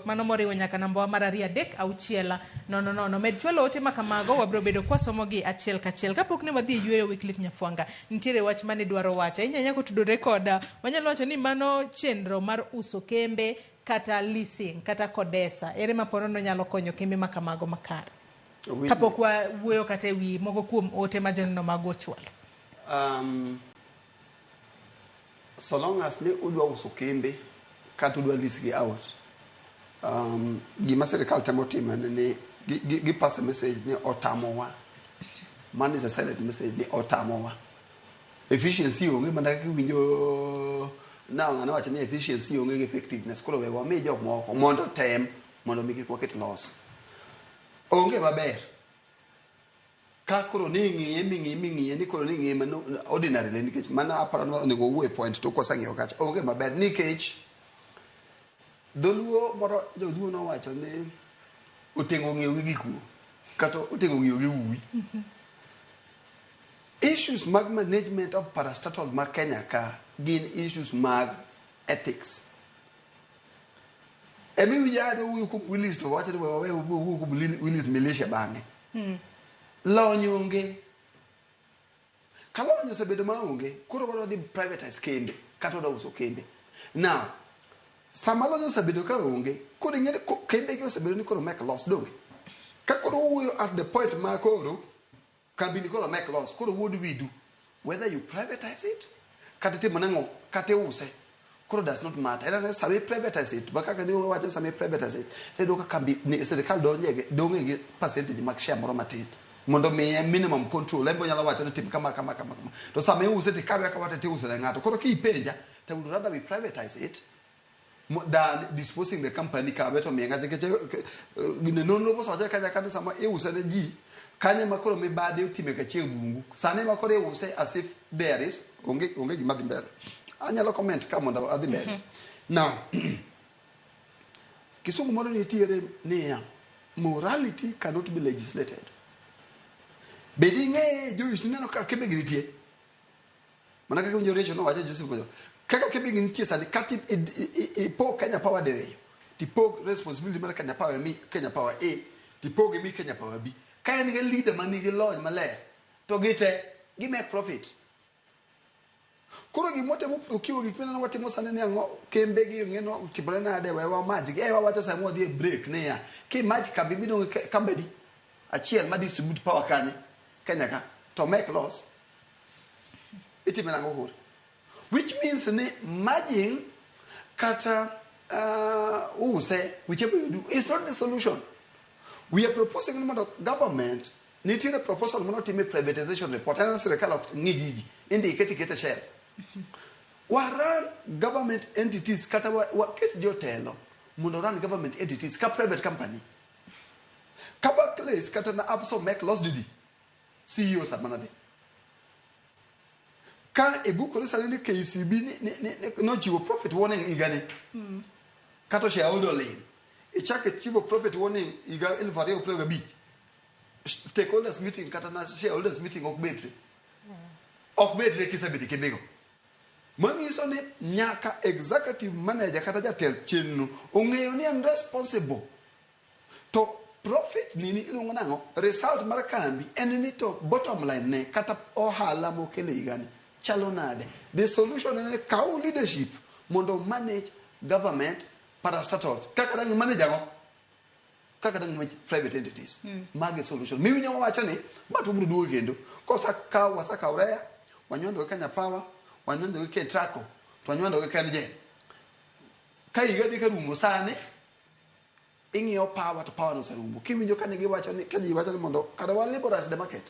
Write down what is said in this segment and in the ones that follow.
Mano moriwo nyaka nambawa mar ariyo, adek, auchiel, nono, nono. Med chwalo ote ma kamago, wabiro bedo ka wasomogi achiel kachiel. Ka pok ne wadhi e yueyo, Wycliffe Nyafwanga, nitiere wach ma nidwaro wacho, ahinya ahinya kotudore kod, wanyalo wacho ni mano chenro mar uso kembe kata leasing kata kodesa. Ere ma ponono nyalo konyo kembe ma kamago ma kare? Ka pok wawuoyo kata e wi moko kuom ote ma joneno magu ochwalo. Um, so long as ni udwa uso kembe kata udwa lease gi out um, gima sirikal temo timo en ni gi- gi- gi pass a message ni otamowa man is a silent message ni otamowa efficiency onge mana kaka iwinjo na ng'ano wacho ni efficiency onge gi effectiveness koro we wami jok moko mondo tem mondo mi kik waket loss onge maber Ka koro ni ing'iye ming'iye ming'iye ni koro ni ing'iye mano ordinary le nikech mano aparo ni onego owuo e point to kwaseng'iyo kacha onge maber nikech dholuo moro joluo nowacho ni otengo ng'iyo gi gikuo kata otengo ng'iyo gi uwi issues mag management of parastatal ma Kenya ka gin issues mag ethics emi wiyado wuyo kuom Willis to wacho ni wawe wuyo kuom Willis militia bang'e Mm. Lony onge. Ka lony osebedo ma onge, koro wadwa dhi privatize kembe, kata wadwa uso kembe. Now, sama lony osebedo ka onge, koro ing'e ni ko- kembe gi osebedo ni koro make loss donge. Ka koro wuoyo at the point ma koro kambini koro make loss, koro wuod widu Whether you privatize it, kata itimo nang'o, kata iuse, koro does not matter. Ineno ni sama i privatize it, ma kaka ne wawacho ni sama i privatize it, to iyudo ka kambi ni sirkal donje gi dong'e gi percentage mag share moro matin mondo omiye minimum control. En be onyalo wacho ni tim kama kama kama kama. To sama iuse to ikawe akawa to iuse ne ng'ato. Koro kipenja to I would rather we privatize it da disposing the company ka beto miye kata nikech eh, gine nonro mosewacho kanya kani sama iuse ne ji kanye ma koro mibadhi otime ka chieng' bungu sani ma koro iuse as if there is onge onge gima dhi mbele anyalo comment ka mondo adhi mbele now kisungu moro nitiere niya morality cannot be legislated bedi ing'e joyis nineno ka kembegi nitie mana kaka winjo recho nowacho Joseph Kojo kaka kebe gini nitie sani kata i- i- i- ipo Kenya Power diriyo tipog responsibility mar Kenya Power mi Kenya Power A tipog mi Kenya Power B ka en gi leader man gi lony maler to gite gi make profit koro gima watemo okiwo gik mineno watimo sani ni ang'o kembe gi ng'eno timore nade we wamaj gi e wawacho sama wadhi e break niya kimaj kambi midong' kambedi achiel ma distribute power kanye Kenya ka to make loss itime nang'o hur which means ni merging kata uh, use whichever you do is not the solution we are proposing ni mondo government nitiere proposal mondo otime privatization report aneno sirikal ok ng'i gigi indike tikete shelf waran government entities kata wa- waket jotelo mondo run government entities ka private company ka Barclays kata na Absa Mek lost didi CEO sa mana dhi ka e buk koro sani ni KCB ni, ni, ni, ni, nochiwo profit warning higani mm. kata shareholder lane ichako ichiwo profit warning higa elfu ariyo piero gabich stakeholders meeting kata na shareholders meeting ok bedre mm. ok bedre kisebedo kindego manyiso ni nyaka executive manager kata jatend chenro ong'eyo ni en responsible To profit nini iluongo nang'o? Result mar kambi en ni to bottom line ne kata ohala mokele higani chalo nade? The solution en ni kaw leadership mondo manage government parastatals. Kaka dang' manage ang'o? Kaka dang' manage private entities. Mm. Magi solution. Miwi nyawa wacho ni but ubro duogo kendo. Kosa kaw wasa kaw rea, wanyondo gi Kenya Power, wanyondo gi Kentraco, to wanyondo gi Kengen. Ka higa dhi ka rumo sani, ing'iyo power to power noserumo kiwinjo ka ne giwacho ni ka ji wacho ni mondo kata wa liberalize the market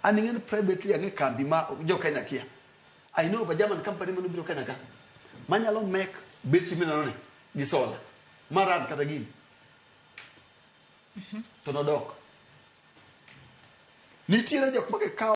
an ing'en privately ang'e kambi ma jo Kenya kia I know of a German company mane obiro Kenya ka manyalo make betri mineno ni gi sola ma run kata gini to nodok nitiere jok ma gikawo